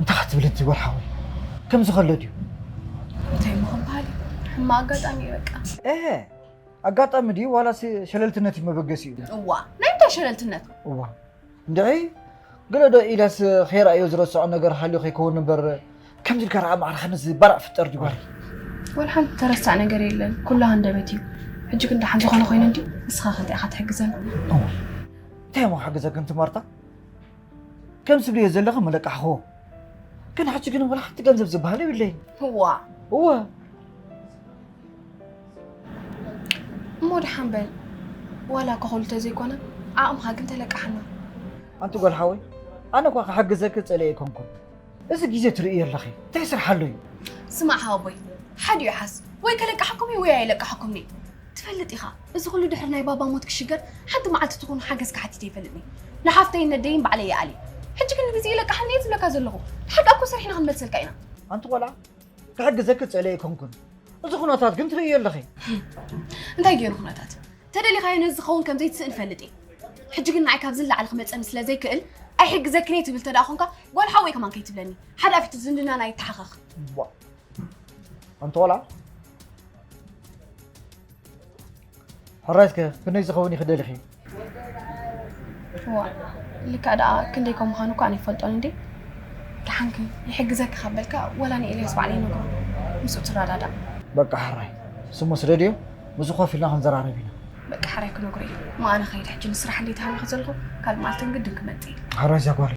እንታይ ክትብል እቲ ወርሓዊ ከምዚ ከሎ ድዩ እንታይ እሞ ክንበሃል እዩ ሕማቅ ኣጋጣሚ እዩ በቃ እህ ኣጋጣሚ ድዩ ዋላስ ሸለልትነት እዩ መበገሲኡ እዋ ናይ እንታይ ሸለልትነት እዋ እንድዒ ገለ ዶ ኢላስ ከይረኣዮ ዝረስዖ ነገር ሃልዩ ከይከውን እምበር ከምዚ ኢልካ ረኣ ማዕረ ከምዚ ባራዕ ፍጠር ድዩ ጓል ወላ ሓንቲ ተረሳዕ ነገር የለን ኩሉ ሃንደበት እዩ ሕጂ ግን ደሓን ዝኾነ ኮይኑ እንድዩ ንስኻ ከ እንታይ ኢኻ ትሕግዘና እንታይ እሞ ክሕግዘክን ትማርታ ከም ዝብልዮ ዘለኺ መለቃሕኹዎ ግን ሕጂ ግን ወላ ሓንቲ ገንዘብ ዝበሃል የብለይን እዋ እወ እሞ ደሓን በል ዋላ ከኸሉ ተዘይኮነ ዓቕምኻ ግን ተለቃሕና ኣንቲ ጓል ሓወይ ኣነ እኳ ክሕግዘኪ ጸለየ ኣይኮንኩን እዚ ግዜ ትርእዮ ኣለኺ እንታይ ስራሕ ኣሎ እዩ ስማዕ ሓወቦይ ሓዲ እዩ ሓስ ወይ ከለቃሓኩም እዩ ወይ ኣይለቃሓኩም እየ ትፈልጥ ኢኻ እዚ ኩሉ ድሕሪ ናይ ባባ ሞት ክሽገር ሓንቲ መዓልቲ ትኹን ሓገዝ ክሓቲት ኣይፈልጥኒ ንሓፍተይን ነደይን ባዕለይ ይኣልየ ሕጂ ግን ንግዜ ይለቃሓኒ እየ ዝብለካ ዘለኹ ንሓቃ እኮ ሰሪሕና ክንመልሰልካ ኢና ኣንቲ ቆልዓ ክሕግዘኪ ዝፅእለ ኣይኮንኩን እዚ ኩነታት ግን ትርእዮ ኣለኺ እንታይ ገይሩ ኩነታት ተደሊኻዮ ነዚ ዝኸውን ከም ዘይትስእን ፈልጥ እየ ሕጂ ግን ንዓይ ካብዚ ንላዕሊ ክመፀኒ ስለ ዘይክእል ኣይሕግዘክን እየ ትብል ተደኣ ኮንካ ጓል ሓወይ ከማን ከይትብለኒ ሓደ ኣፊቱ ዝምድናና ይተሓኸኽ ዋ ኣንቲ ቆልዓ ሕራይስ ከ ክንደይ ዝኸውን ኢኺ ደሊኺ? እዋ ልክዕ ደኣ ክንደይ ከም ምዃኑ እኳ ኣይፈልጦን እንዴ ደሓንክ ይሕግዘኪ ካብ በልካ ወላ ንኤልያስ ባዕለ ይነግሮ ምስኡ ትረዳዳእ በቃ ሕራይ ስሙ ስደድዮ ምስ ኮፍ ኢልና ክንዘራረብ ኢና። በቃ ሕራይ ክነግሮ እዩ። ማኣነ ከይድ ሕጂ ንስራሕ እንዴት ሃቢኺ ዘለኹ ካልእ መዓልቲ ግን ግድን ክመጽእ እዩ። ሕራይ ዛጓል